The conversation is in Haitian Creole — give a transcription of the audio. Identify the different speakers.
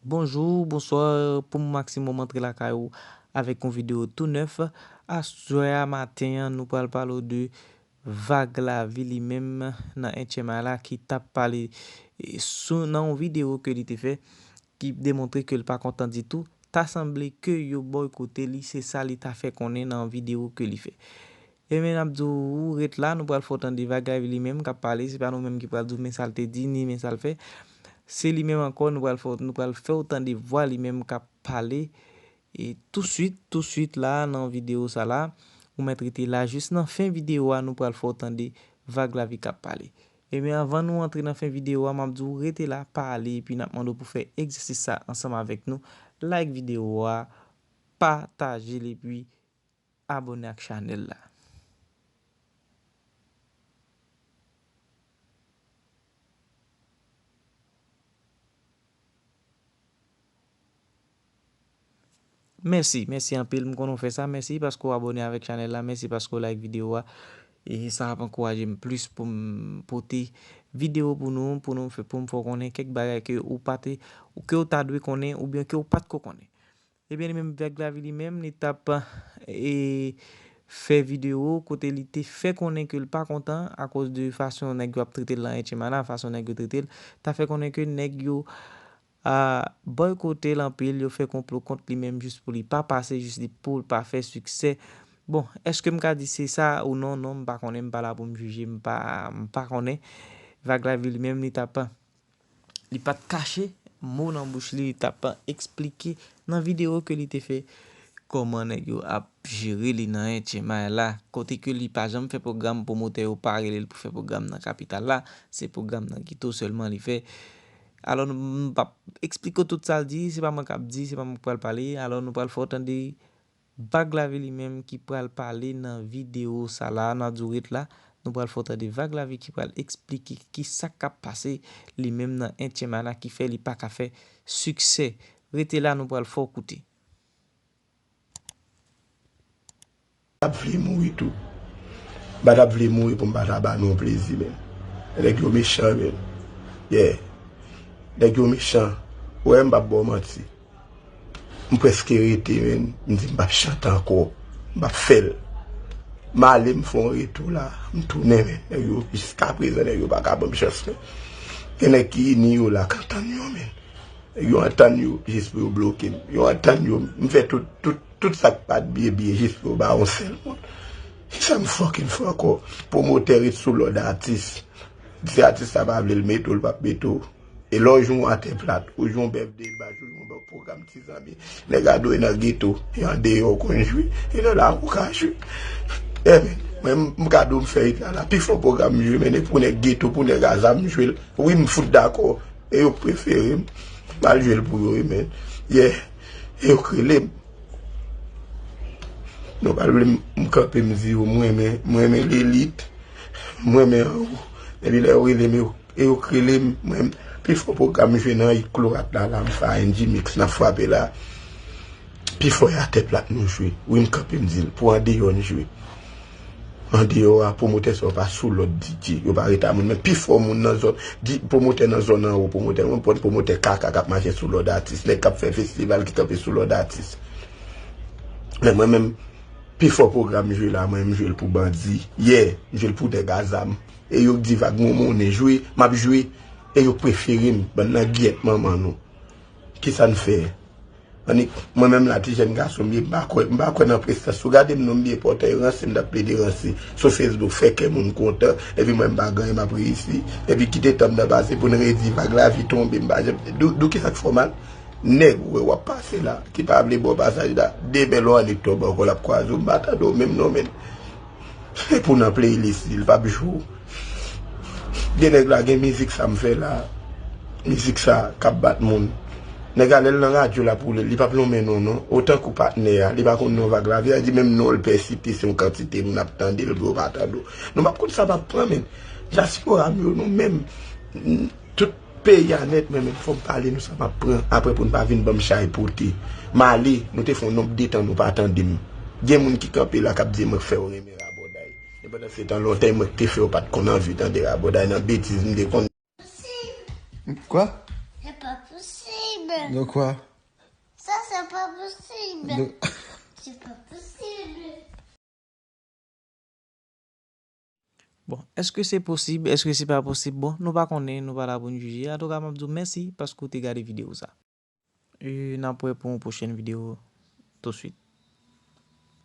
Speaker 1: Bonjou, bonswa, pou m maksimòm antre lakay ou avèk yon videyo tou nèf. Aswè a maten an, nou pral pale ou de vag lavi li menm nan HMI la ki t ap pale sou nan yon videyo ke li te fè. ki demontre ke l pa kontan ditou, ta sanble ke yo bòykote li, se sa li ta fè konnen nan yon videwo ke li fè. Enben n ap di w, ou ret la, nou pral fè w tande bagay li menm k ap pale, se pa nou menm ki pral di w men sa l te di, ni men sa l fè, se li menm ankò nou pral fè w, nou pral fè w tande vwa li menm k ap pale e tousuit, tousuit la a nan videwo sa la a, ou mèt rete la a jis nan fen videwo a nou pral fè w tande Vaglavi k ap pale. Ebyen avan nou antre nan fen video a map di w rete la pa ale epi nap mande w pou fè egzèsis sa ansanm avèk nou like video a pataje l epi abone ak chanèl la. Mèsi mèsi anpil m konnen w fè sa mèsi paske w abòne avèk chanèl la mèsi paske w like videyo a e sa ap ankouraje m plis pou m pote videyo pou nou pou nou pou m fè w konnen kèk bagay ke ou pa te ke w ta dwe konnen oubyen ke w pa t ko konnen ebyen li menm Vlog Lavi li menm li t ap fè videyo kote li te fè konnen ke l pa kontan akoz de fason nèg yo ap trete l lan Etchenmana fason nèg yo trete l ta fè konnen ke nèg yo Ahh boykotel anpil yo fè konplo kont li menm jis pou li pa pase jis li poul pa fè siksè bon eskem ka di se sa ou non non m pa konnen m pa la pou m jije m pa m pa konnen vag la vi li menm li tap li pat kache mo nan bouch li li tap esplike nan video ke li te fè koman nèg yo ap jere li nan Etchenmay la kote ke li pa janm fè pwogram pwomotè yo pa relel pou fè pwogram nan kapital la se pwogram nan ghetto selman li fè Alò nou, m p ap esplike w tout sa l di, se pa mwen k ap di, se pa mwen k pral pale, alò nou pral fè w tande Vag Lavi li menm ki pral pale nan videyo sa la, nan Durite la, nou pral fè w tande Vag Lavi ki pral esplike ki sa k ap pase li menm nan Entyèmana ki fè li pa ka fè siksè. Rete la nou pral fè w koute.
Speaker 2: Tap vle mouri tou. M pa tap vle mouri pou m pa ta ba nou plezi menm. Nèg yo mechan menn. Yeah. Nèg yo mechan. Ou wè m pap ba w manti. M prèske rete menn. M di m pap chante ankò. M pap fè l. M ale m fè yon retou la. M tounen men. Nèg yo jiskaprezan nèg yo pa ka ban m chans menn. Gen nèg ki ini yo la k antann yo menn. Yo antann yo jis pou yo bloke m. Yo antann yo, m fè tout, tout, tout sa k pat byen byen jis pou yo ba yon sèl moun. Se sa m fucking fè ankò. Pwomotè ret sou lòd atis. Si atis la pa vle l mete w, l pap mete w. E lè w jwenn yon atè plat, ou jwenn yon bèfde bash, ou jwenn yon bon pwogram ti zanmi, nèg a dwe nan geto, e an deyò ou konn jwi, e lè w la ou ka jwi. Yè men, mwen m ka di w m fè it la la. Pi fò pwogram m jwe men e pou nèg geto, pou nèg a zam m jwe l. Wi m fout dakò. E yo prefere m mal jwe l pou yo wi men yeah e yo k rele m Nou pa vle m kanpe m di yo m renmen m renmen Lilith m renmen Rou epi lè yo rele m yo e yo k rele m mwen pi fò pwogram jwe nan yi klo rap la la m fè a NG mix nan fwape la pi fò y a tè plat nou jwe wi m kanpe m di l pou andeyò n jwe. Andeyò a, pwomotè sa yo pa sou lòd DJ. Yo pa reta moun. Men pi fò moun nan zòn, pwomotè nan zòn anwo, pwomotè nan pwent, pwomotè kaka k ap mache sou lòd atis. Nèg k ap fè festival ki kanpe sou lòd atis. Men mwen menm, pi fò pwogram m jwe la, mwen m jwe l pou bandi. Yè, m jwe l pou nèg a zam. E yo k di vag mwen monnen jwe, m ap jwe. E yo k prefere m. Bann nan gyèt manman nou. Kisa n fè? Annik, mwen menm la ti jèn gason m ye, m pa kwè, m pa kwè nan prestans. Si w gade m non m byen pòte, e ranse m t ap plede ranse sou Facebook fè kè moun kontan, epi mwen m pa gen anyen m ap reyisi, epi kite tan m nan pase pou n redi vag lavi tonbe m pa janm dou dou kisa k fè w mal? Nèg ou wè w ap pase la, ki pa vle ba w pasaj la, demen lè w annik tonbe ankò l ap kwaze w m pa tande w menm non menn. Se pou nan playlist li, li pap jou. Gen nèg la gen mizik sa m fè la, mizik sa k ap bat moun. Nèg la lè l nan radyo l ap woule l, li pap lonmen non non. Otan kou patnè a, li pa konn non Vag Lavi a, li di menm non l pè site se yon kantite moun ap tande l vre yo pa tande w. Nou pap konn sa m ap pran men. Dyaspora m yo nou menm, tout. Peyi a nèt men men fòm pale nou sa map pran aprè poun pa vin banm chay pote male nou te fon nonb detan nou pa tandem gen moun ki kanpe la kap di mwen k fèw renmen rabòday e pandan se tan lontan e mwen k te fèw pat konn anvi tande rabòday nan betiz m te konn
Speaker 1: Bon, èske se posib, èske se pa posib, bon, nou pa konnen, nou pa la pou n jije, antouka m ap di w mèsi paske w te gade videyo sa. E n ap wè pou yon pwochèn videyo touswit.